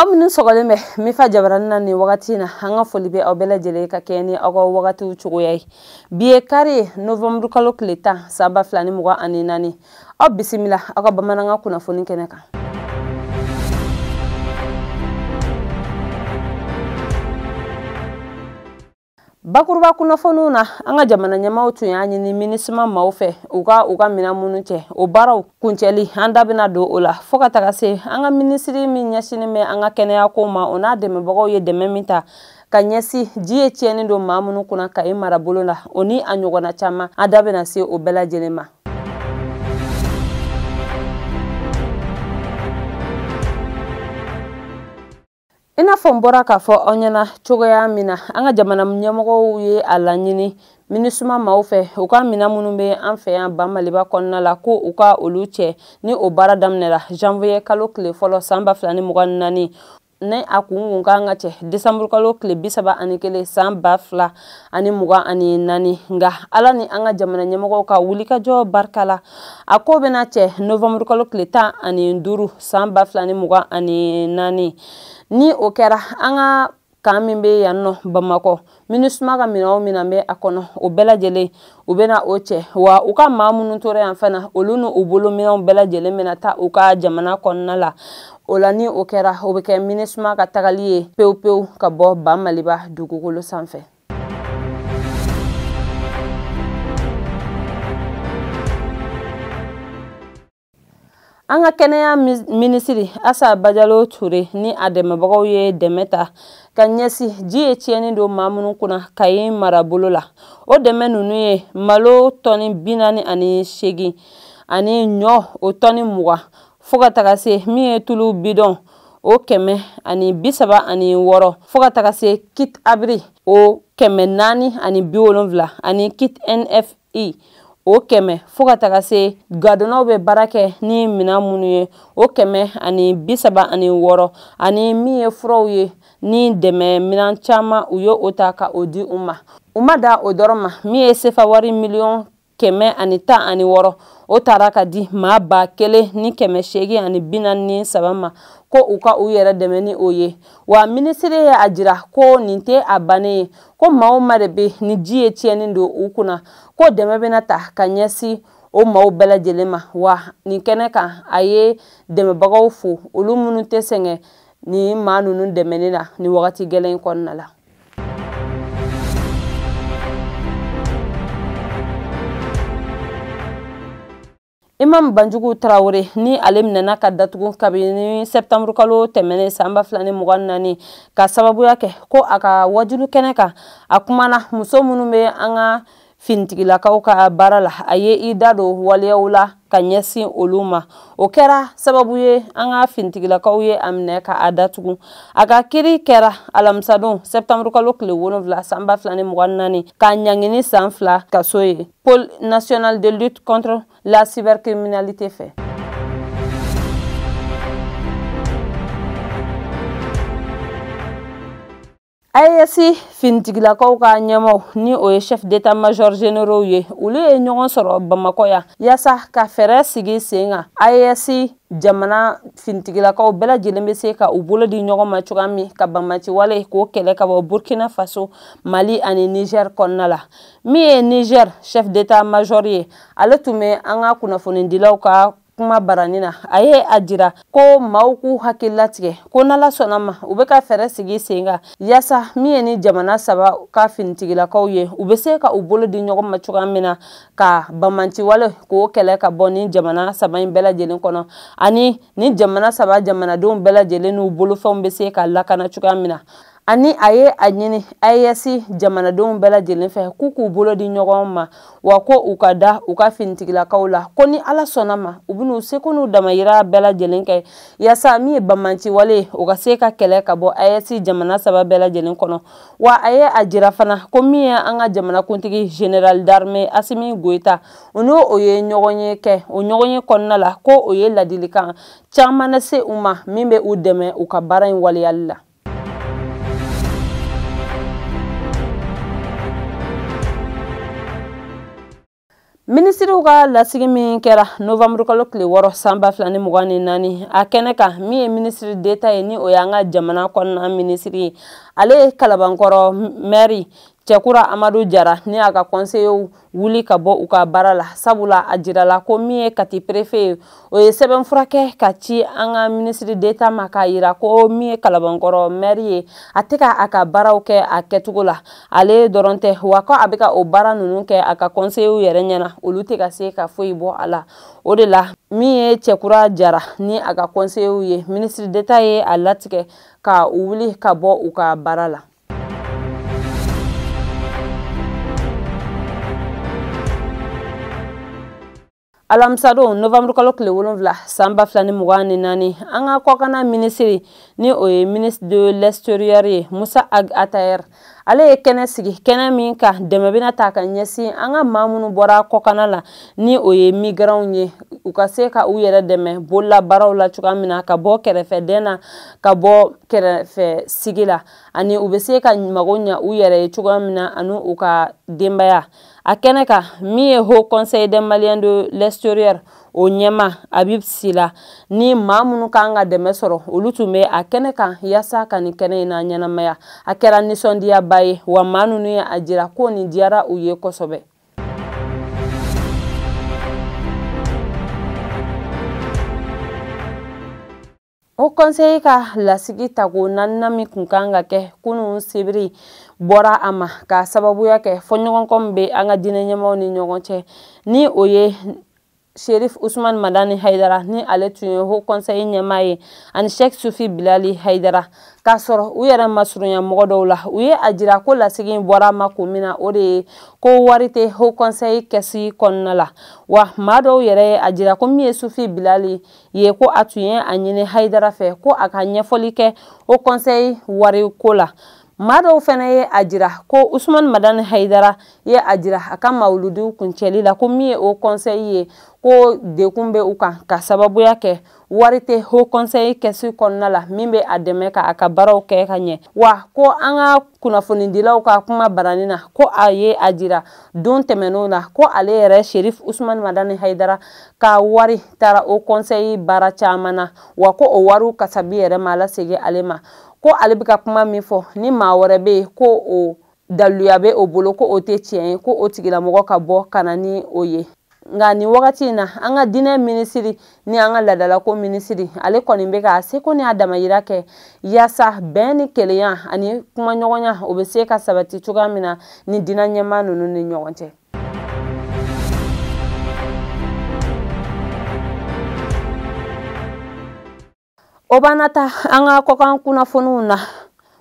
aw minnu sɔgɔlen bɛ mifa jabarani na nin wagati na an ka foli bɛ aw bɛɛ lajɛlen ka kɛɲɛ ni aw ka wagatiw cogoya ye bi ye kari ye novanburu kalo tile tan san ba fila ni mugan ani naani aw bisimila aw ka bamanankan kunnafoni kɛnɛ kan bakuruba kunnafoniw na an ka jamana ɲɛmaaw tun y'a ɲini minusuma maaw fɛ u ka u ka minɛn minnu cɛ o baaraw kuncɛli an da bɛna don o la fɔɔ ka taga se an ka minisiri min ɲɛsinin bɛ an ka kɛnɛyako ma o n'a dɛmɛbagaw ye dɛmɛ min ta ka ɲɛsi ji ye tiɲɛni don maa minnu kunna kayi marabolo la o ni a ɲɔgɔnna caman an da bɛna se o bɛɛ lajɛlen ma i n'a fɔ n bɔra k'a fɔ aw ɲɛna cogoya min na an ka jamana ɲɛmɔgɔw ye a laɲini minusuma maaw fɛ u ka minan minnu bɛ an fɛ yan ba maliba kɔnɔna la ko u ka olu cɛ ni o baara daminɛra janvier kalo tile fɔlɔ san ba fila ni mugan ni naani ni a kun tun kan ka cɛ desanburukalo tile bi saba ani kelen san ba fila ani mugan ani naani nka ala ni an ka jamana ɲɛmɔgɔw ka wulikajɔ barika la a kun bɛna cɛ novanburukalo tile tan ani duuru san ba fila ni mugan ani naani ni o kɛra an ka kan min bɛ yan nɔ bamakɔ minusuma ka minɛn o minɛn bɛ a kɔnɔ o bɛɛ lajɛlen u bɛna o cɛ wa u ka maa minnu tora yan fana olu ni u bolo minɛnw bɛɛ lajɛlen bɛna taa u ka jamana kɔnɔna la o la ni o kɛra o bɛ kɛ minusuma ka tagali ye pewu pewu ka bɔ ba maliba dugukolo sanfɛ an ka kɛnɛya minisiri asa bajalo ture ni a dɛmɛbagaw ye dɛmɛ ta ka ɲɛsi ji ye tiɲɛni don maa minnu kunna kayi marabolo la o dɛmɛ ninnu ye malo tɔni bi naani ani seegin ani ɲɔ o tɔni mugan fo ka taga se min ye tulu bidɔn o kɛmɛ ani bi saba ani wɔɔrɔ fo ka taga se kit abri o kɛmɛ naani ani bi wolonfila ani kit nf i o kɛmɛ fɔɔ ka taga se gadonnaw bɛ baara kɛ ni minan minnu ye o kɛmɛ ani bisaba ani wɔɔrɔ ani min ye furaw ye ni dɛmɛ minan caman u ye o ta ka o di u ma u ma da o dɔrɔn ma min ye sefa wari miliyɔn kɛmɛ ani tan ani wɔɔrɔ o tara ka di maa ba kelen ni kɛmɛ seegin ani bi naani ni saba ma ko u ka u yɛrɛ dɛmɛ ni o ye wa minisiri ye a jira ko nin tɛ a bannen ye ko maa o maa de bɛ ni ji ye tiɲɛni don u kunna ko dɛmɛ bɛna ta ka ɲɛsin o maaw bɛɛ lajɛlen ma wa nin kɛnɛ kan a ye dɛmɛbagaw fo olu minnu tɛ sɛgɛn nin maa ninnu dɛmɛni na nin wagati gɛlɛn in kɔnɔna la imam banjugu traore ni ale minɛna ka datugu kabini sɛptanburu kalo tɛmɛnen san ba fila ni mugan naani ka sababuya kɛ ko a ka wajulu kɛnɛ kan a kumana muso minnu bɛ an ka finitigilakaw ka baara la a ye i da don waleyaw la ka ɲɛsin olu ma o kɛra sababu ye an ka finitigilakaw ye a minɛ ka a datugu a ka kiri kɛra alamisadon sɛptanburu kalo tile wolonwula san ba fila ni mugan naani k'a ɲangini san fila kaso ye pôle national de lutte contre la cybercriminalité fɛ AES finitigilakaw ka ɲɛmaw ni o ye chef d'état major généraux ye olu ye ɲɔgɔn sɔrɔ bamakɔ yan yaasa ka fɛɛrɛ sigi sen kan AES jamana finitigilakaw bɛɛ lajɛlen bɛ se ka u bolo di ɲɔgɔn ma cogoya min ka banbaanciwale k'o kɛlɛ ka bɔ burkina faso mali ani niger kɔnɔna la min ye niger chef d'état major ye ale tun bɛ an ka kunnafonidilaw ka kumabarani na a ye a jira ko maaw k'u hakili latigɛ ko n'ala sɔnna ma u bɛ ka fɛɛrɛ sigi sen kan yaasa min ye nin jamana saba ka finitigilakaw ye u bɛ se ka u bolo di ɲɔgɔn ma cogoya min na ka banbaanciwale k'o kɛlɛ ka bɔ nin jamana saba in bɛɛ lajɛlen kɔnɔ ani nin jamana saba jamanadenw bɛɛ lajɛlen n'u bolofɛnw bɛ se ka lakana cogoya min na ani a ye a ɲini AES jamanadenw bɛɛ lajɛlen fɛ k'u k'u bolo di ɲɔgɔn ma wa ko u ka da u ka finitigilakaw la ko ni ala sɔnna ma u bɛn'u seko n'u damayira bɛɛ lajɛlen kɛ yaasa min ye banbaanciwale ye o ka se ka kɛlɛ ka bɔ AES jamana saba bɛɛ lajɛlen kɔnɔ wa a ye a jira fana ko min ye an ka jamanakuntigi général d'armée Asimi Goyita o n'o o ye ɲɔgɔnye kɛ o ɲɔgɔnye kɔnɔna la ko o ye ladilikan caman lase u ma min bɛ u dɛmɛ u ka baara in waleyali la minisiriw ka lasigi min kɛra novanburukalo tile wɔɔrɔ san ba fila ni mugan ni naani a kɛnɛ kan min ye minisiri deta ye ni o y'an ka jamana kɔnɔna minisiri ye ale ye kalabankɔrɔ mɛri cɛkura amadu jara ni a ka kɔnseyew wuli ka bɔ u ka baara la sabula a jirala ko min ye kati perefe ye o ye sɛbɛnfura kɛ ka ci an ka minisiri deta ma k'a yira ko min ye kalabankɔrɔ mɛri ye a tɛ ka a ka baaraw kɛ a kɛcogo la ale dɔrɔn tɛ wa ko a bɛ ka o baara ninnu kɛ a ka kɔnseyew yɛrɛ ɲɛna olu tɛ ka se ka foyi bɔ a la o de la min ye cɛkura jara ni a ka kɔnseyew ye minisiri deta ye a latigɛ ka u wuli ka bɔ u ka baara la alamisadon novanburukalo tile wolonfila san ba fila ni mugan ni naani an ka kɔkanna minisiri ni o ye ministre de l'extérieur ye musa ag ataher ale ye kɛnɛ sigi kɛnɛ min ka dɛmɛ bɛna taa ka ɲɛsin an ka maa minnu bɔra kɔkanna la ni o ye migranw ye u ka se ka u yɛrɛ dɛmɛ bololabaaraw la cogoya min na ka bɔ kɛrɛfɛdɛn na ka bɔ kɛrɛfɛ sigi la ani u bɛ se ka mago ɲa u yɛrɛ ye cogoya min na ani u ka denbaya a kɛnɛ kan min ye haut conseil des maliens de l'extérieur o ɲɛmaa habib sila ni maa minnu kan ka dɛmɛ sɔrɔ olu tun bɛ a kɛnɛ kan yasa ka nin kɛnɛ in na ɲɛnamaya a kɛra nisɔndiyaba ye wa maa ninnu ye a jira ko nin diyara u ye kosɛbɛ ho kɔnsɛyi ka lasigi tako naaninan min kun kan ka kɛ kunun sibiri bɔra a ma ka sababuya kɛ fɔɲɔgɔnkɔ min bɛ an ka diinɛ ɲɛmaaw ni ɲɔgɔn cɛ ni o ye sherif usman madani hayidara ni ale tun ye ho kɔnsɛyi ɲɛmaa ye ani shek sufi bilali hayidara k'a sɔrɔ u yɛrɛ masurunya mɔgɔ dɔw la u ye a jira ko lasigi bɔra a ma kun min na o de ye ko wari tɛ ho kɔnsɛyi kɛsi kɔnɔna la wa maa dɔw yɛrɛ ye a jira ko min ye sufi bilali ye ko a tun ye a ɲini hayidara fɛ ko a ka ɲɛfɔli kɛ ho kɔnsɛyi wariko la maa dɔw fana ye a jira ko usumani madani hayidara ye a jira a ka mawuludiw kuncɛli la ko min ye ho kɔnsɛyi ye ko degun bɛ u kan ka sababuya kɛ wari tɛ ho kɔnsɛyi kɛsi kɔnɔna la min bɛ a dɛmɛ ka a ka baaraw kɛ ka ɲɛ wa ko an ka kunnafonidilaw ka kuma baranin na ko a ye a jira don tɛmɛnenw na ko ale yɛrɛ sherif usumani madani hayidara ka wari taara ho kɔnsɛyi baara caman na wa ko o wariw kasabi yɛrɛ ma lasegin ale ma ko ale bɛ ka kuma min fɔ ni maa wɛrɛ bɛ yen ko o daluya bɛ o bolo ko o tɛ tiɲɛ ye ko o tigilamɔgɔ ka bɔ ka na ni o ye nka nin wagati in na an ka diinɛ minisiri ni an ka laadalako minisiri ale kɔni bɛ ka a seko ni a damayira kɛ yaasa bɛn ni kelenya ani kumaɲɔgɔnya o bɛ se ka sabati cogoya min na ni diinɛ ɲɛmaa ninnu ni ɲɔgɔn cɛ o b'an ta an ka kɔkan kunnafoniw na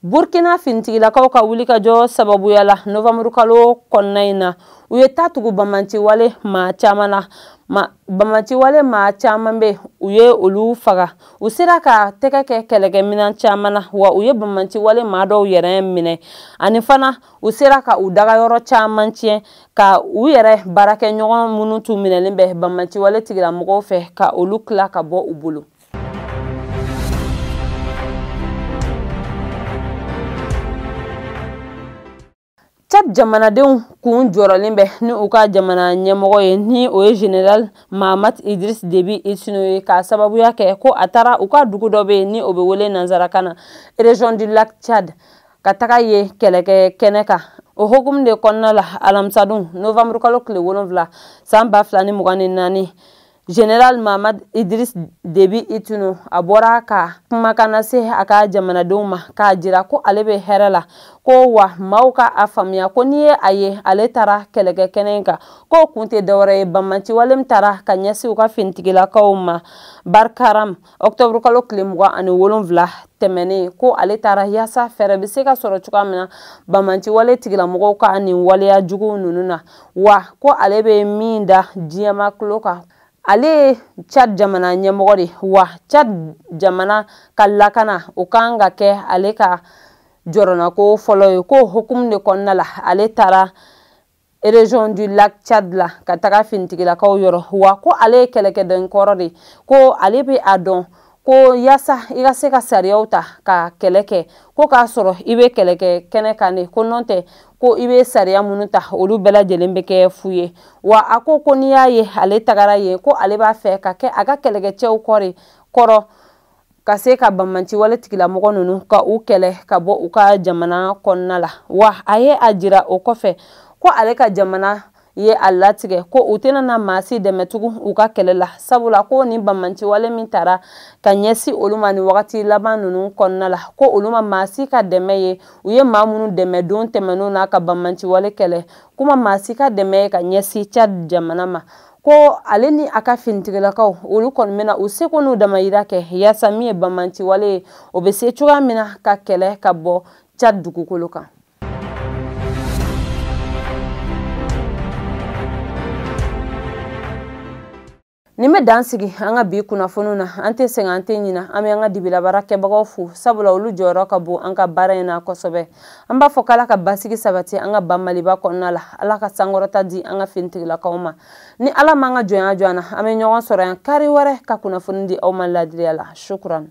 burkina finitigilakaw ka wulikajɔ sababuya la novanburu kalo kɔnɔna in na u ye ta tugu banbaanciwale maa caman na banbaanciwale maa caman bɛ u ye olu faga u sera ka tɛgɛ kɛ kɛlɛkɛminɛn caman na wa u ye banbaanciwale maa dɔw yɛrɛ minɛ ani fana u sera ka u dagayɔrɔ caman tiɲɛ ka u yɛrɛ baarakɛɲɔgɔn minnu tun minɛlen bɛ banbaanciwale tigilamɔgɔw fɛ ka olu tila ka bɔ u bolo cad jamanadenw kun jɔrɔlen bɛ ni u ka jamana ɲɛmɔgɔ ye ni o ye general mahamat idriss deby itno ye k'a sababuya kɛ ko a taara u ka dugu dɔ bɛ yen ni o bɛ wele nanzarakan na région du lac tchad ka taga yen kɛlɛkɛ kɛnɛ kan o hukumu de kɔnɔna la alamisadun novamburu kalo tile wolonfila san ba fila ni mugan ni naani general mahamat idriss deby itno a bɔra ka kumakan lase a ka jamanadenw ma k'a jira ko ale bɛ hɛrɛ la ko wa maaw ka a faamuya ko n'i ye a ye ale taara kɛlɛkɛ kɛnɛ in kan k'o kun tɛ dɔwɛrɛ ye banbaanciwale min taara ka ɲɛsin u ka finitigilakaw ma barkaram ɔkutɔburukalo tile mugan ani wolonfila tɛmɛnen ko ale taara yaasa fɛɛrɛ bɛ se ka sɔrɔ cogoya min na banbaanciwale tigilamɔgɔw ka nin waleya juguw ninnu na wa ko ale bɛ min da diɲɛmaa tulo kan ale ye chad jamana ɲɛmɔgɔ de wa chad jamana ka lakana o kan ka kɛ ale ka jɔrɔnako fɔlɔ ye k'o hukumu de kɔnɔna la ale taara région du lac Tchad la ka taga finitigilakaw yɔrɔ wa ko ale ye kɛlɛkɛden kɔrɔ de ko ale bɛ a dɔn ko yaasa i ka se ka sariyaw ta ka kɛlɛ kɛ ko k'a sɔrɔ i bɛ kɛlɛ kɛ kɛnɛ kan de ko nɔntɛ ko i bɛ sariya minnu ta olu bɛɛ lajɛlen bɛ kɛ fu ye wa a ko ko n'i y'a ye ale tagara yen ko ale b'a fɛ ka kɛ a ka kɛlɛkɛcɛw kɔrɔ kɔrɔ ka se ka banbaanciwale tigilamɔgɔ ninnu ka u kɛlɛ ka bɔ u ka jamana kɔnɔna la wa a ye a jira o kɔfɛ ko ale ka jamana ye a latigɛ ko u tɛna na maa si dɛmɛ tugun u ka kɛlɛ la sabula ko nin banbaanciwale min tara ka ɲɛsin olu ma nin wagati laban ninnu kɔnɔna la ko olu ma maa si ka dɛmɛ ye u ye maa minnu dɛmɛ don tɛmɛnenw na ka banbaanciwale kɛlɛ k'u ma maa si ka dɛmɛ ye ka ɲɛsin cadi jamana ma ko ale ni a ka finitigilakaw olu kɔni bɛna u seko n'u damayira kɛ yaasa min ye banbaanciwale ye o bɛ se cogoya min na ka kɛlɛ ka bɔ cad dugukolo kan nin bɛ dan sigi an ka bi kunnafoniw na an tɛ sɛgɛn an tɛ ɲina an bɛ an ka dibilabaara kɛbagaw fo sabula olu jɔyɔrɔ ka bon an ka baara in na kosɛbɛ an b'a fɔ k'ala ka basigi sabati an ka ba maliba kɔnɔna la ala ka sankɔrɔta di an ka finitigilakaw ma ni ala m'an ka jɔnya jɔ an na an bɛ ɲɔgɔn sɔrɔ yan kari wɛrɛ ka kunnafoni di aw ma ladiriya la shukuran